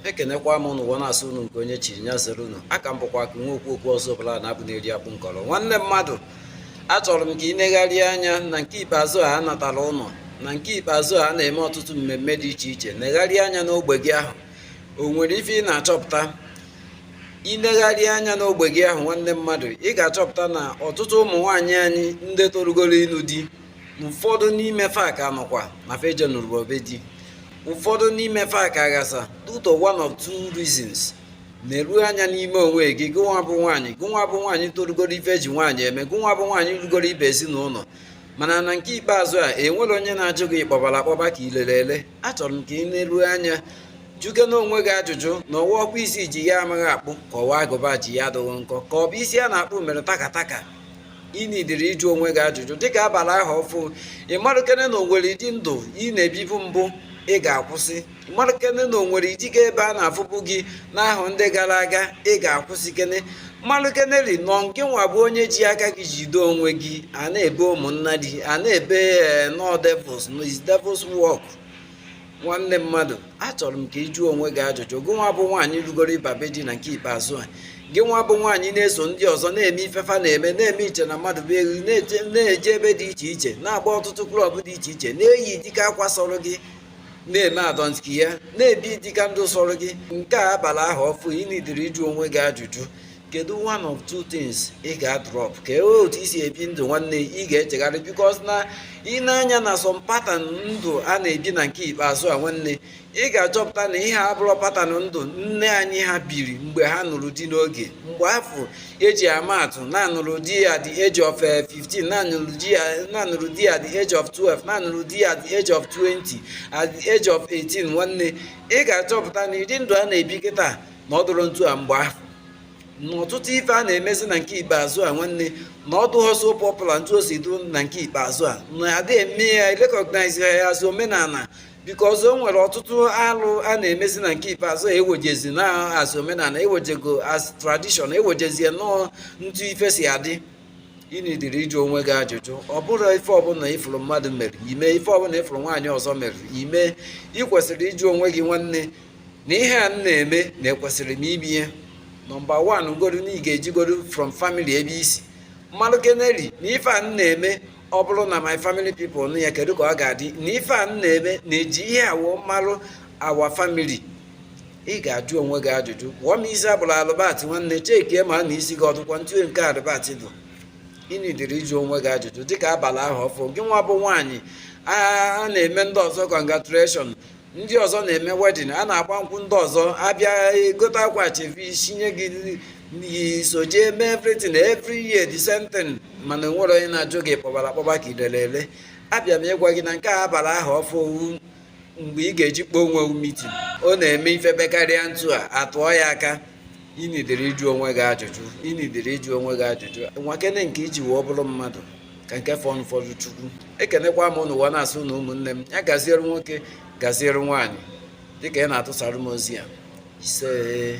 ekenekwa m unu na-asụ unu nke onye chiri nya zere unu aka m bụkwa ka nwa okwu okwu ọzọ bụla na-abụ na-eri akpụ nkọrọ nwanne mmadụ achọrọ m ka ị negharị anya na nke ikpeazụ a natara ụlọ na nke ikpeazụ a na-eme ọtụtụ mmemme dị iche iche negharị anya n'ogbe gị ahụ o nwere ife ị na-achọpụta i negharị anya n'ogbe gị ahụ nwanne mmadụ ị ga-achọpụta na ọtụtụ ụmụ nwaanyị anyị ndị torugoro ịnụ di ụfọdụ n'ime fa ka nọkwa na fa ejenurọ be di ụfọdụ n'ime fa ka aghasa due to one or two reasons neru anya n'ime onwe gị gụnwa bụ nwaanyị gụnwa bụ nwaanyị torugoro ife e ji nwaanyị eme gụnwa bụ nwaanyị rugoro ịba ezinụlọ mana na nke ikpeazụ a enwerọ onye na-ajụ gị ị kpọbara akpọba ka i lere ele achọrọ m ka i neru anya jụkene onwe gị ajụjụ na ọ wa ọkpụ isi ji ya amaghị akpụ ka ọ wa agụba ji ya adịghị nkọ ka ọ bụ isi a na-akpụ mere takataka ị nidiri ịjụ onwe gị ajụjụ dịka a bala ahọ ọfụ ị marụkene na o nwere ụdị ndụ ị na-ebibu mbụ ị ga-akwụsị marụkene na o nwere ụdị ga ebe a na-afụbu gị n'ahọ ndị gara aga ị ga-akwụsịkene marụkeneri na ọ nke nwa bụ onye ji aka gị jide onwe gị a na-ebe ụmụnna gị a na-ebe eh, na ọ devils is devils work nwanne mmadụ achọrọ m ka ị jụọ onwe gị ajụjụ gị nwa bụ nwaanyị rugoro ịba be di na nke ikpeazụ a gị nwa bụ nwaanyị na-eso ndị ọzọ na-eme ife fa na-eme na-eme iche na mmadụ bụ eghu na-eje ebe dị iche iche na-agba ọtụtụ club dị iche iche na-eyi dịka akwa sọrọ gị na-eme I don't care na-ebi dịka ndụ sọrọ gị nke a a bala ahọ ọfụ ị nidiri ịjụ onwe gị ajụjụ kedu one or two things ị ga-drop ka otu i si ebi ndụ nwanne ị ga-echegharị because na i nee anya na some pattern ndụ a na-ebi na nke ikpeazụ a nwanne ị ga-achọpụta na ihe abụrọ pattern ndụ nne anyị ha biri mgbe ha nụrụ di n'oge mgbe afụ e ji ama atụ na-anụrụ di at the age of 15 eh, na-anụrụ di at na-anụrụ di at the age of 12 na-anụrụ di at the age of 20 at the age of 18 nwanne ị ga-achọpụta na ụdị ndụ a na-ebi kịta na ọ dụrọ ntu a mgbe ahụ na ọtụtụ ife a na-emezi na nke ikpeazụ a nwanne na ọ dụghọ so popular ntu o si dụ na nke ikpeazụ a na adị eme ya recognize ya as omenala because o nwere ọtụtụ alụ a na-emezi na nke ikpeazụ a ewejezi na as omenala ewejego as tradition ewejezie na ọ ntu ife si adị ị nidiri ịjụ onwe gị ajụjụ ọ bụrọ ife ọbụla ị fụrụ mmadụ mere i mee ife ọbụla ị fụrụ nwaanyị ọzọ mere i mee ị kwesịrị ịjụ onwe gị nwanne na ihe a m na-eme na ekwesịrị m ibi ya number one godu na ị ga-ejigodu from family ebe i si marụkeneri na ife a m na-eme ọ bụrụ na my family people nụ ya kedu ka ọ ga-adị na ife a m na-eme na e ji ihe a wee marụ our family ị ga-ajụ onwe gị ajụjụ kpụọ m isi a kpụrụ Albert nwanne checkie ma na isi gị ọ dụkwa ntu nke Albert dụ ị nidiri ịjụ onwe gị ajụjụ dịka a bala ahọ ọfụ gị nwa bụ nwaanyị a na-eme ndị ọzọ congratulation ndị ọzọ na-eme wedding a na-agba nkwụ ndị ọzọ abịa egote akwa ashebi sinye gị so jee mee everything every year the same thing mana e nwere onye na-ajụ gị ị kpọbara akpọba ka idere ele abịa m ịgwa gị na nke a a bara ahọ ọfụ mgbe ị ga-eji kpọọ onwe meeting ọ na-eme ife bekarịa ntu a atụọ ya aka ị needịrị ịjụ onwe gị ajụjụ ị needịrị ịjụ onwe gị ajụjụ nwakene nke i ji wee ọ bụrụ mmadụ ka nke fọnụ fọdụ chukwu ekenekwa m ụnụ wee na-asị ụnụ ụmụnne m ya gaziere nwoke gaziere nwaanyị dịka ị na-atụsara m ozi a isee